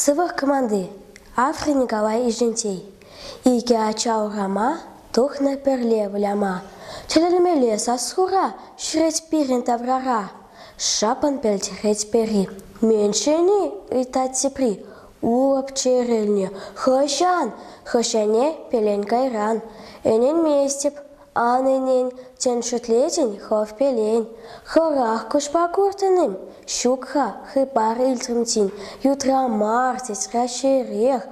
Сывлӑх команди Афри Николай Ишентей икӗ ача урама тухнӑ пӗрле выляма тӗлӗнмелле сассура ҫӳрет пирӗн таврара шапан пӗлтерет пӗри. Меншени ыйтать тепри. Урӑп чӗрӗлнӗ. Хӑҫан? Хӑҫане пелен кайран. Ӗненместӗп. Анненен тӗн шӳтлетӗн хӑв пелен. Хӑрах куҫпа куртӑн-им? Ҫук-ха, хыпар илтрӗм тин. Ютра мар, тет Раҫҫейрех.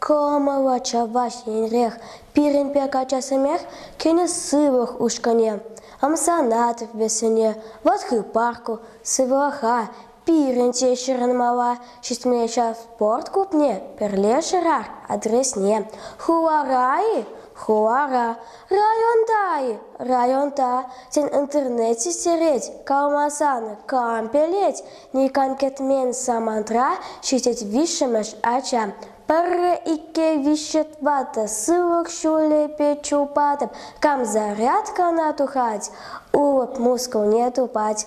Кӑмӑллӑ чӑваш енрех. Пирӗн пек ачасемех кӗнӗ сывлӑх ушкӑнне. Ӑмсанатӑп вӗсене. Вӑт хыпар ку, сывлӑха Пирӗн те ҫырӑнмалла ҫитме ҫав спорт клубне пӗрлешӗрӗр адресне хулара-и хулара, районта-и районта, тен интернет систерет, калмасан кампелет, никам кӗтмен самантра ҫитет виҫҫӗмӗш ача. Пӗрре икке виҫҫӗ тӑватӑ сывлӑх ҫулӗпе чупатӑп, кам зарядкана тухать, улӑп мускулне тупать.